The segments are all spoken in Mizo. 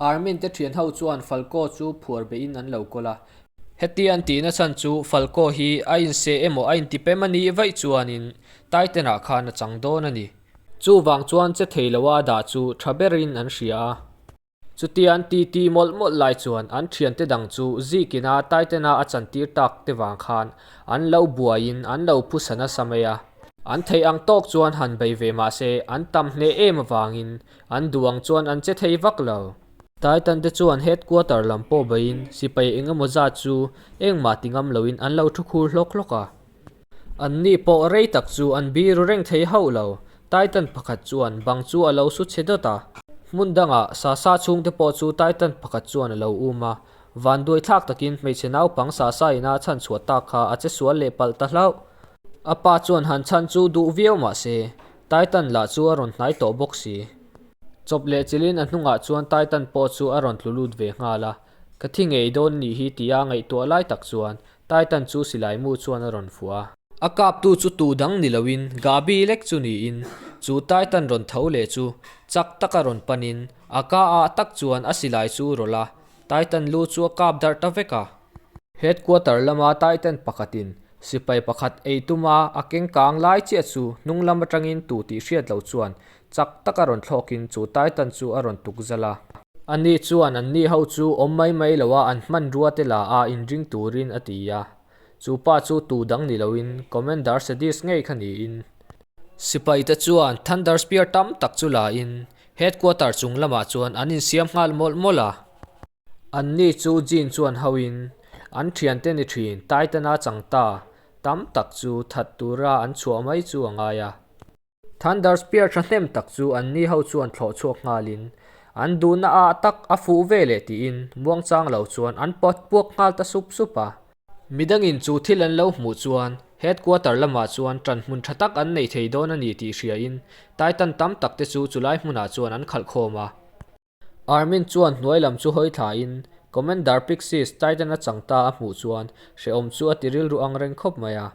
Army-n te thian ho chuan Falco chu phuar beh in an lo kawl a. Heti an tihna chhan chu Falco hi a inseh emaw a inti pem a nih vaih chuan in Taitenah khan a chang dawn a ni. Chuvang chuan che thei lo a dah chu tha ber in an hria a. Chutia an ti ti mawlh mawlh lai chuan an thian te dang chu zik in a Taitena a chan tir tak te vang khan an lo buai in an lo phu sa nasa mai a. An theih ang tawk chuan han bei ve mah se an tam hneh em avang in An duang chuan an che thei vak lo. Titan te chuan headquarter lam pawh baiin sipai eng emaw zat chu engmah ti ngam loin an lo thu khur hlawk hlawk a. Anni pawh rei tak chu an biru reng thei hauh lo. Titan pakhat chuan bang chu a lo su che dawt a. Hmun dangah Sasa chhung te pawh chu Titan pakhat chuan a lo um a. Van duai thlak takin hmeichhe naupang Sasa in a chhan chhuah tak kha a che sual leh palh ta hlauh. A pa chuan han chhan chu duh viau mah se, Titan lah chu a rawn hnai tawh bawk si. Chawp leh chilhin a hnungah chuan Titan pawh chu a rawn tlu lut ve nghal a, Ka thi ngei dawn ni hi ti a ngaihtuah lai tak chuan Titan chu silai mu chuan a rawn fuah a. A kaptu chu tu dang ni loin Gabi lek chu niin chu Titan rawn tho leh chu chak taka rawn panin a ka ah tak chuan a silai chu rawlh a, Titan lu chu a kap darh ta vek a. Headquarter lama Titan pakhatin sipai pakhat ei tuma a keng kang lai chiah chu hnunglam atangin tu tih hriat loh chuan chak taka rawn thlawkin chu Titan chu a rawn tukzal a. Ani chuan an ni ho chu awm mai mai lo a, an hmanrua te la a inring turin a ti a. Chu pa chu tu dang ni loin Commander Sadist ngei kha niin. Sipai te chuan Thunder Spear tam tak chu lain Headquarter chung lamah chuan an insiam nghal mawlh mawlh a. An ni chu Jin chuan hau in, An thian te ni thin, Taitana chang ta tam tak chu that tura an chhuah mai chu a ngai a. Thunder Spear thahnem tak chu an ni ho chuan thlawh chhuak nghal in, An duhna ah tak a fuh ve le tiin Muangchang lo chuan an pat puak nghal ta sup sup a. Midang in chu thil an lo hmuh chuan Headquarter lam ah chuan tan hmun tha tak an nei thei dawn a ni tih hria in, Taitan tam tak te chu chulai hmun ah chuan an khalh khawm a. Armin chuan hnuai lam chu hawi thlaiin, Commander Pixies Titan a chang ta a hmuh chuan hrehawm chu a ti rilru ang reng khawp mai a.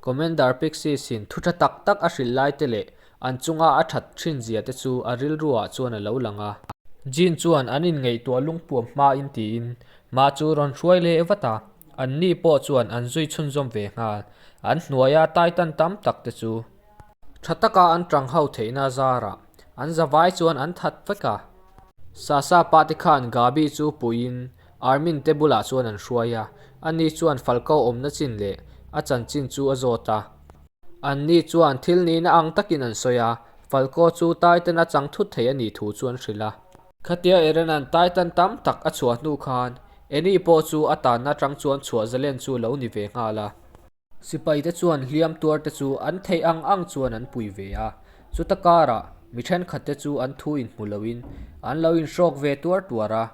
Commander Pixies-in thutha tak tak a hrilh lai te leh an chunga a that thin zia te chu a rilru ah chuan a lo lang a. Jean chuan an inngaihtuah lungpuam hmain tiin, Mah chu rawn hruai leh vat a, anni pawh chuan an zui chhunzawm ve nghal. An hnuaia Titan tam tak te chu. Tha taka an tang ho theihna zarah an zavai chuan an that vek a. Sasa pate khan Gabi chu puiin Armin te bulah chuan an hruai a, ani chuan Falco awmna chin leh a chanchin chu a zawt a. Anni chuan thil nihna ang takin an sawi a, Falco chu Titan a chang thut thei a nih thu chu an hrilh a. Khatia Erenan Titan tam tak a chhuah hnu khan Annie pawh chu a tanna tang chuan chhuah zalen chu lo ni ve nghal a. Sipai te chuan hliam tuar te chu an theih ang ang chuan an pui ve a. Chuta karah mi thenkhat te chu an thu inhmu loin an lo inhrawk ve tuar tuar a.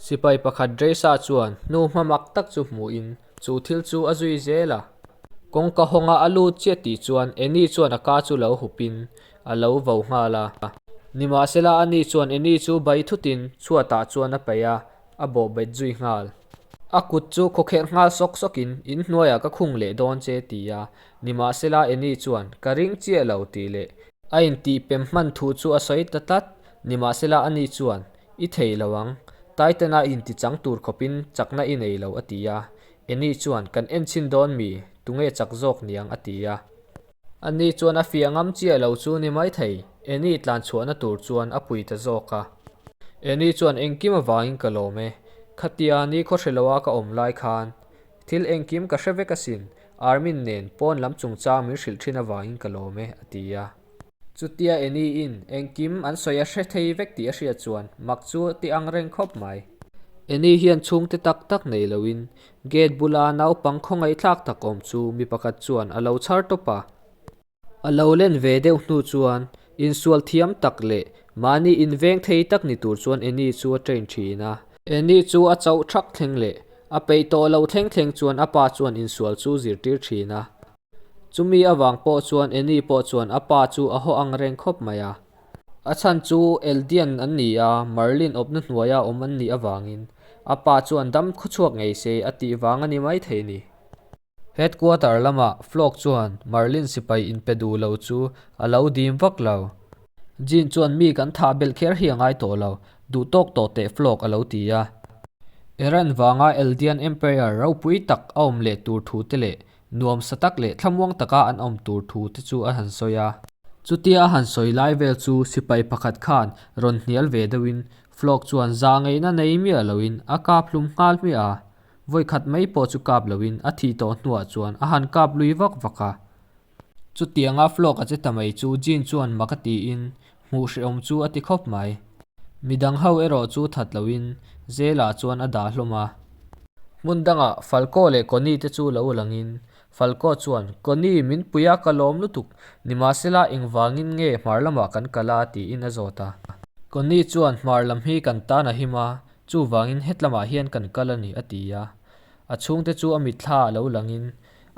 Sipai pakhat Dresa chuan hnu hma mak tak chu hmuhin chu thil chu a zui zel a. Kawngka hawnga a lut chiah tih chuan Annie chuan a ka chu lo hupin a lo vo nghal a. Nimahsela Annie chuan Annie chu bai thutin chhuatah chuan a paih a. a bawh bet zui nghal. A kut chu khawkhelh nghal sawk sawk in, in hnuaiah ka khung leh dawn che ti a, nimahsela Annie chuan ka ring chiah lo ti leh. A intih pem hman thu chu a sawi ta tlat, nimahsela Annie chuan i thei lo ang, Taitana inti chang tur khawp in chakna i nei lo a ti a, Annie chuan kan en chin dawn mi, tunge chak zawk niang a ti a. Ani chuan a fiah ngam chiah lo chu ni mai thei, Annie tlan chhuahna tur chuan a pui ta zawk a. Annie chuan engkim avangin ka lawm e, khatia ni khaw hre loha ka awm lai khan thil engkim ka hre vek asin, Armin nen pawn lam chungchang min hrilh thin avangin ka lawm e, a ti a. Chutia Annie-in engkim an sawi a hre thei vek tih a hriat chuan mak chu a ti angreng khawp mai. Annie hian chhungte tak tak nei loin Gate bula naupang khawngaihthlak tak awm chu mi pakhat chuan a lo chhar tawp a. A lo len ve deuh hnu chuan insual thiam tak leh mahni inveng thei tak ni tur chuan Annie chu a train thin a. Annie chu a chauh thak thleng leh a peih tawh loh thleng thleng chuan a pa chuan insual chu zirtir thin a. Chumi avang pawh chuan Annie pawh chuan a pa chu a haw ang reng khawp mai a. A chhan chu Eldian an ni a, Marlin awpna hnuaia awm an nih avangin a pa chuan dam khaw chhuak ngei se a tih vang a ni maithei a ni. Headquarter lamah Flock chuan Marlin sipai in pe duh lo chu a lo dim vak lo. Jean chuan mi kan thah belh kher hi a ngai tawh lo, duh tawk tawh teh Flock a lo ti a. Iran vanga Eldian Empire ropui tak a awm leh tur thu te leh nuam sa tak leh thlamuang taka an awm tur thu te chu a han sawi a. Chutia a han sawi lai vel chu sipai pakhat khan rawn hnial ve deuhin Flok chuan za ngeihna nei miah loin a kap hlum nghal hmiah a, vawikhat mai pawh chu kap loin a thih tawh hnuah chuan a han kap lui vak vak a. Chutianga Flok a che ta mai chu Jean chuan maka tiin Hmuh hrehawm chu a ti khawp mai. Midang ho erawh chu that loin zelah chuan a dah hlawm a. Hmun dangah Falco leh Connie te chu lo langin Falco chuan, Connie, min pui a, ka lawm lutuk. Nimahsela engvangin nge hmar lamah kan kal a? tiin a zawt a. Connie chuan, Hmar lam hi kan tan a him a, chuvangin hetlamah hian kan kal a ni, a ti a. A chhungte chu a mitthla ah lo langin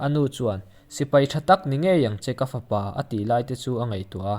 a nu chuan, Sipai tha tak ni ngei ang che ka fapa, a tih lai te chu a ngaihtuah a.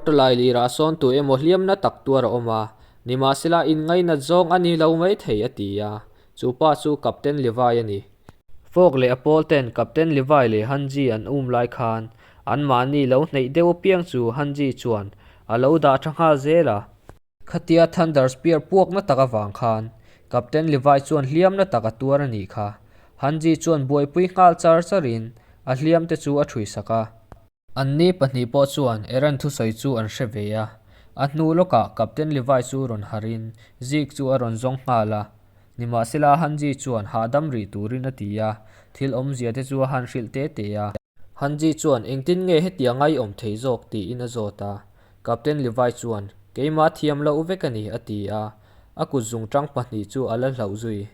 Kawrtu lai lirah sawn tu emaw hliamna tak tuar a awm a, nimahsela inngaina zawng a ni lo mai thei a ti a, chu pa chu Captain Levi a ni. Fawk leh a pawl ten Captain Levi leh Han Ji an um lai khan anmahni lo hneih deuh apiang chu Han Ji chuan a lo dah tha nghal zel a. Khatia Thunder Spear puakna tak avang khan Captain Levi chuan hliamna tak a tuar a nih kha. Han Ji chuan buaipui nghal char char in a hliam te chu a ṭhuihsak a. An ni pahnih pawh chuan Aaron thusawi chu an hre ve a, a hnu lawkah captain Levi chu rawn harh in Zeke chu a rawn zawng nghal a, nimahsela Hanji chuan hahdam rih turin a ti a, thil awmzia te chu a han hrilh te te a. Hanji chuan engtin nge hetia ngaiawm thei zawk tiin a zawt a, captain Levi chuan keimah thiam loh vek a ni a ti a, a kutzung ṭang pahnih chu a la hlauh zui.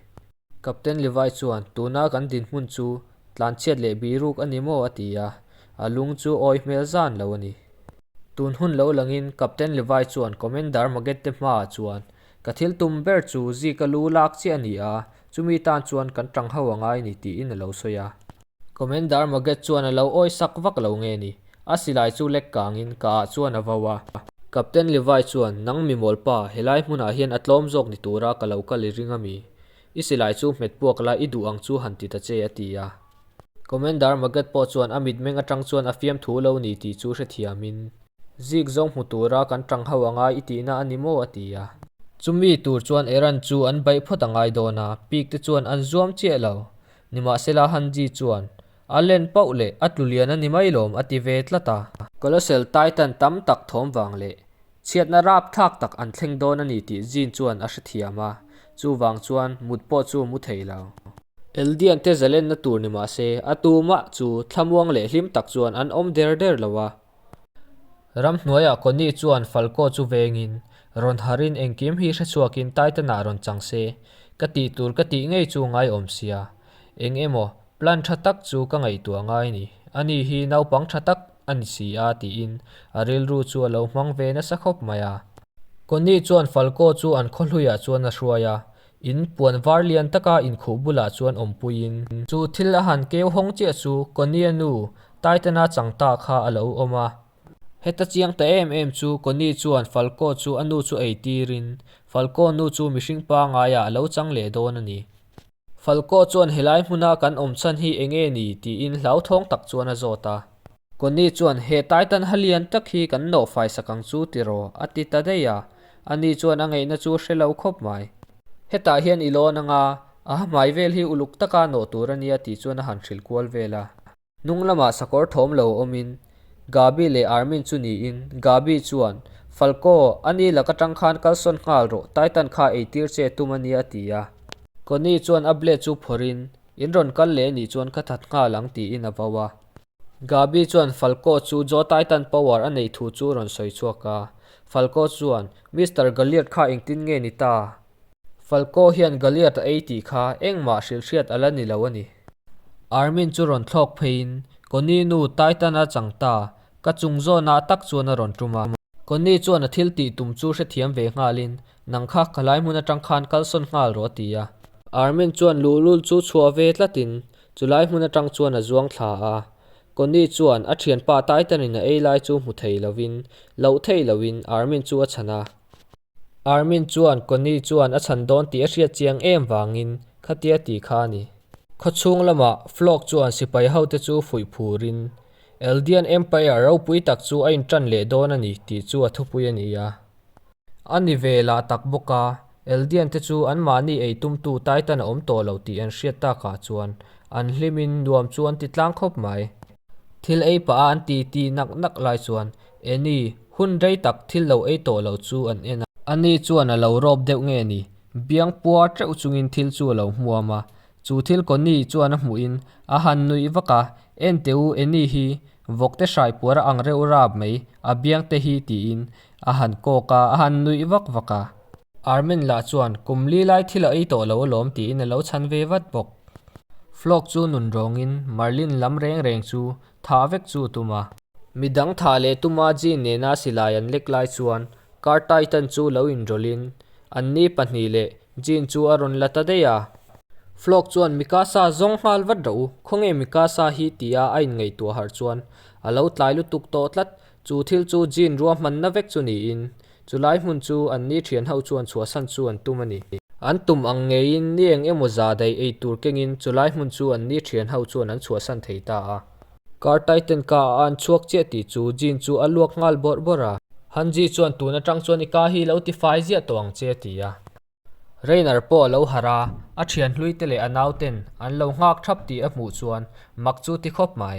Captain Levi chuan, Tuna kan dinhmun chu tlanchhiat leh biruk a ni maw? a ti a, a lung chu awi hmel zan lo a ni. Tun hun lo langin Captain Levi chuan, Commander Magette hmaah chuan ka thil tum ber chu Zika lu lak chiah a ni a, chumi tan chuan kan tang ho a ngai a ni tiin a lo sawi a. Commander Maget chuan a lo awi sak vak lo nge ni? A silai chu lek kangin ka ah chuan a vau a. Captain Levi chuan, Nang mimawl pa, helai hmunah hian a tlawm zawk ni tura ka lo kal i ring a mi. I silai chu hmet puak la, i duh ang chu han ti ta che, a ti a. Commander Maget pawh chuan a mitmeng atang chuan a fiam thu lo ni tih chu hrethiamin, Zik zawng hmu tura kan tang ho ang a, i tihna a ni maw? a ti a. Chumi tur chuan Eran chu an baih phawt a ngai dawn a, pik te chuan an zuam chiah lo. Nimahsela Hanji chuan, A len pauh leh a tlu lian a ni mai lawm a ti ve tlat a. Colossal Titan tam tak thawm vang leh chhiatna rap thlak tak an thleng dawn a ni tih Jin chuan a hrethiam a, chuvang chuan mut pawh chu mu thei lo. Eldian te zalenna tur nimahse a tumah chu thlamuang leh hlim tak chuan an awm der der lo a. Ram hnuaiah Connie chuan Falco chu vengin rawn harhin engkim hi hrechhuakin Titan-ah rawn chang se, ka tih tur ka tih ngei chu ngaiawm sia, eng emaw plan tha tak chu ka ngaihtuah ngai ni, ani hi naupang tha tak a ni si a tiin a rilru chu a lo hmang ve nasa khawp mai a. Connie chuan Falco chu an khaw hluiah chuan a hruai a, In puan var lian taka inkhuh bulah chuan awmpuiin. Chu thil a han keu hawng chiah chu Connie-a nu Taitana chang ta kha a lo awm a. Heta chiang ta em em chu Connie chuan Falco chu a nu chu ei tirin Falco nu chu mihring pangaiah a lo chang leh dawn a ni. Falco chuan helai hmuna kan awm chhan hi eng nge ni tiin hlauthawng tak chuan a zawt a. Connie chuan, He Taitan ha lian tak hi kan nawh fai sak ang chu ti raw? a ti ta daih a. Annie chuan, A ngeihna chu hre lo khawp mai. Hetah hian i lawn anga, a ha hmai vel hi uluk taka nawh tur a nia tih chuan a han hrilh kual vel a. Hnung lamah sakawr thawm lo awmin Gaby leh Armin chu niin, Gaby chuan, Falco, Annie lak atang khan kal sawn nghal rawh, Taitan kha eitir che tum a nia a ti a. Connie chuan a blade chu phawrhin, In rawn kal leh nih chuan ka that nghal ang tiin a vau a. Gabi chuan Falco chu Jotaitan power a neih thu chu rawn sawi chhuak a. Falco chuan, Mister Galliard kha engtin nge ni ta? Falco hian Galliard a ei tih kha engmah hrilh hriat a la ni lo a ni. Armin chu rawn thlawk pheiin, Connie nu Titan a chang ta, ka chung zawnah tak chuan a rawn tum a. Connie chuan a thil tih tum chu hrethiam ve nghalin, Nang kha ka lai hmun atang khan kal sawn nghal rawh a ti a. Armin chuan Luhlul chu chhuah ve tlat in chu lai hmun atang chuan a zuang thla a. Connie chuan a thianpa Titan in a ei lai chu hmu thei lo in, loh theih lo in Armin chu a chhan a. Armin chuan Connie chuan a chhan dawn tih a hriat chiang em vang in khatia ti kha a ni. Khaw chhung lamah Flock chuan sipai ho te chu fuih phur in Eldian Empire ropui tak chu a in tan leh dawn a ni tih chu a thupui a ni a. A ni ve lah tak bawk a, Eldian te chu an mahni ei tumtu Taitan a awm tawh lo tih an hriat tak ah chuan an hlim in nuam chu an ti tlang khawp mai. Thil ei pah a an ti ti nak nak lai chuan Annie hun rei tak thil lo ei tawh lo chu an en a. Annie chuan a lo rawp deuh nge ni? Biang puar teuh chung in thil chu a lo hmuam a, chu thil Connie chuan a hmuh in a han nuih vak a, Enteu Annie hi Vawkte hrai puar a ang reuh rap mai, a biang te hi tiin a han kawk a, a han nuih vak vak a. Armen lah chuan kum li lai thil a ei tawh lo alawm tiin a lo chhan ve vat bawk. Flok chu nun rawngin Marlene lam reng reng chu thah vek chu tum a. Midang thah leh tuma Jean nena silai an lek lai chuan Cartaitan chu lo inrawlhin, Anni pahnih leh Jean chu a rawn la ta daih a. Flok chuan Mikasa zawng nghal vat rawh u, khawnge Mikasa hi tia a inngaihtuah harh chuan a lo tlai lutuk tawh tlat. Chu thil chu Jean ruahmanna vek chu niin, chulai hmun chu anni thian ho chuan chhuahsan chu an tum a ni. An tum ang ngeiin ni eng emaw za daih ei tur kengin chulai hmun chu anni thian ho chuan an chhuahsan thei ta a. Car Titan ka a an chhuak chiah tih chu Jin chu a luak nghal bawrh bawrh a. Han Ji chuan tun atang chuan i car hi lo ti fai ziah tawh ang che a ti a. Reiner pawh a lo harh a, a thian hluite leh a naute'n an lo nghak thap tih a hmuh chuan mak chu ti khawp mai.